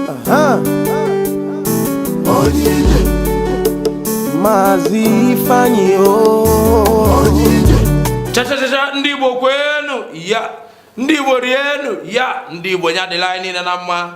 Aha. Maazị Ifeanyi o chachachacha ndị igbo kweenu ya ndị igbo rienu ya ndị igbo nya dịla anyị niile na mma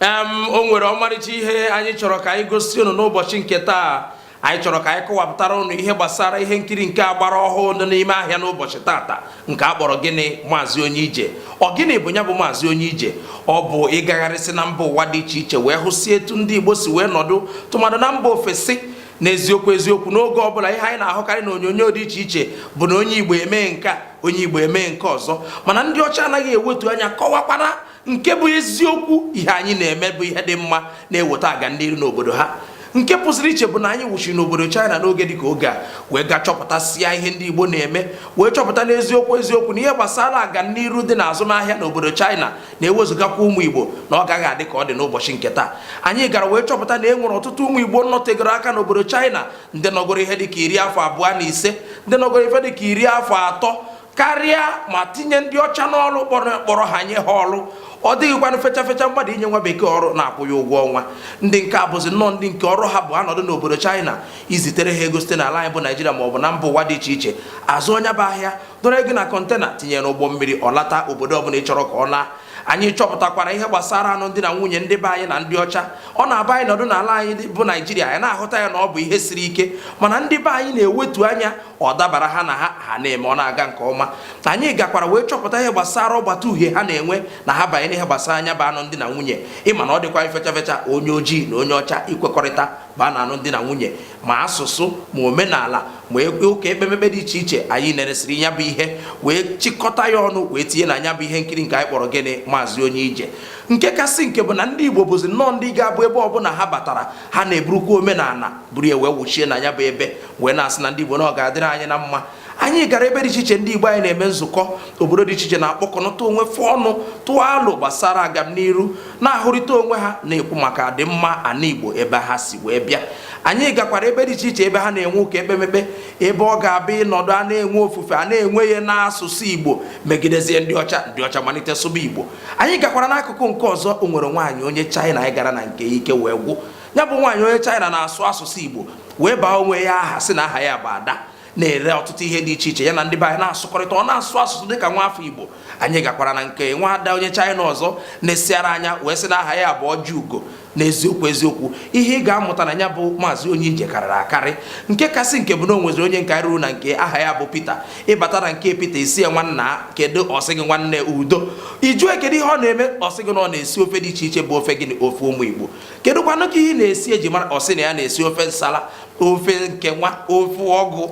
em o nwere ọmarịcha ihe anyị chọrọ ka anyị gosi unu n'ụbọchị nke taa anyị chọrọ ka anyị kọwapụtara unu ihe gbasara ihe nkiri nke a gbara ọhụụ dị n'ime ahịa n'ụbọchị tata nke a kpọrọ gịnị maazị onye ije ọ gịnị bụ nya bụ maazị onye ije ọ bụ ịgagharịsị na mba ụwa dị iche iche wee hụsị etu ndị igbo si wee nọdụ tụmadụ na mba ofesi n'eziokwu eziokwu n'oge ọbụla ihe anyị na-ahụkarị na onyonyo dị iche iche bụ na onye igbo emee nke a onye igbo emee nke ọzọ mana ndị ọcha anaghị ewetu anya kọwakwara nke bụ eziokwu ihe anyị na-eme bụ ihe dị mma na-eweta aga n'iru n'obodo ha nke pụziri iche bụ na anyị wụchiri n'obodo China n'oge dị ka oge a wee gaa chọpụtasịa ihe ndị Igbo na-eme wee chọpụta n'eziokwu eziokwu na ihe gbasara aga n'iru dị n'azụmahịa n'obodo China na e wezugakwa ụmụ Igbo na ọ gaghị adị ka ọ dị n'ụbọchị nke taa anyị gara wee chọpụta na e nwere ọtụtụ ụmụ Igbo nọtegoro aka n'obodo China ndị nọgoro ihe dị ka iri afọ abụọ na ise ndị nọgoro ife dị ka iri afọ atọ karịa ma tinye ndị ọcha n'ọrụ kpọrọ ha nye ha ọrụ ọ dịghịkwanụ fecha fecha mmadụ inye nwa bekee ọrụ na-akwụ ya ụgwọ ọnwa ndị nke a bụzi nnọọ ndị nke ọrụ ha bụ a nọdụ n'obodo China i zitere ha ego site n'ala anyị bụ Naijiria ma ọ bụ na mba ụwa dị iche iche a zụọ nya bụ ahịa dọọrọ gị na kọntena tinye n'ụgbọ mmiri ọ lata obodo ọbụla ị chọrọ ka ọ laa anyị chọpụtakwara ihe gbasara anụmdi na nwunye ndị be anyị na ndị ọcha ọ na-abụ anyị nọdụ n'ala anyị bụ naijiria anyị na-ahụta ya na ọ bụ ihe siri ike mana ndị be anyị na-ewetu anya ọ dabara ha na ha ha na-eme ọ na-aga nke ọma anyị gakwara wee chọpụta ihe gbasara ọgbata uhie ha na-enwe na ha banye n'ihe gbasara nya bụ anụmdi na nwunye ị ma na ọ dịghịkwa fecha fecha onye ojii na onye ọcha ikwekọrịta baa na anụmdi na nwunye ma asụsụ ma omenala ma e, ụka ekpemekpe dị iche iche anyị neresịrị ya bụ ihe wee chịkọta ya ọnụ wee tinye na nya bụ ihe nkiri nke anyị kpọrọ gịnị maazị onye ije nke kasị nke bụ na ndị igbo bụzi nnọọ ndị ga-abụ ebe ọbụla ha batara ha na-eburukwa omenala buru ya wee wụchie na nya bụ ebe wee na-asị na ndị Igbo na ọ ga-adịrị anyị na mma anyị gara ebe dị iche iche ndị Igbo anyị na-eme nzukọ obodo dị iche iche na-akpọkọnọta onwe fa ọnụ tụọ alo gbasara agamniru na-ahụrịta onwe ha na-ekwu maka adịmma ana Igbo ebe ha si wee bịa anyị gakwara ebe dị iche iche ebe ha na-enwe ụka ekpemekpe ebe ọ ga-abụ ị nọdụ a na-enwe ofufe a na-enwe ya n'asụsụ Igbo megidezie ndị ọcha ndị ọcha malite sụba Igbo anyị gakwara n'akụkụ nke ọzọ o nwere nwaanyị onye China anyị gara na nke ike wee gwụ ya bụ nwaanyị onye China na-asụ asụsụ Igbo wee baa onwe ya aha sị na aha ya bụ Ada na-ere ọtụtụ ihe dị iche iche ya na ndị be anyị na-asụkọrịta ọ na-asụ asụsụ dị ka nwa afọ Igbo anyị gakwara na nke nwa ada onye China ọzọ na-esiara anya wee sị na aha ya bụ Ọjịugo n'eziokwu eziokwu ihe ị ga-amụta na ya bụ maazị onye ije karịrị akarị nke kasị nke bụ na o nweziri onye nke ruru na nke aha ya bụ Peter ịbata na nke Peter ị sị ya nwanna kedu ọ sị gị nwanne udo ị jụọ kedu ihe ọ na-eme ọ sị gị na ọ na-esi ofe dị iche iche bụ ofe gịnị ofe ụmụ Igbo kedụkwanụ nke ị na-esi e ji mara ọ sị na ya na-esi ofe nsala ofe nke nwa ofe ụgụ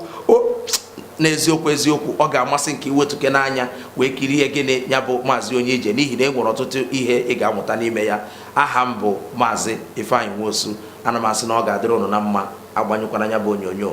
n'eziokwu eziokwu ọ ga-amasị m ka i wetukene anya wee kirie gịnị ya bụ maazị onye ije n'ihi na e nwere ọtụtụ ihe ị ga-amụta n'ime ya aha m bụ maazị Ifeanyi Nwosu ana m asị na ọ ga-adịrị ụnụ na mma agbanyụkwana ya bụ onyonyo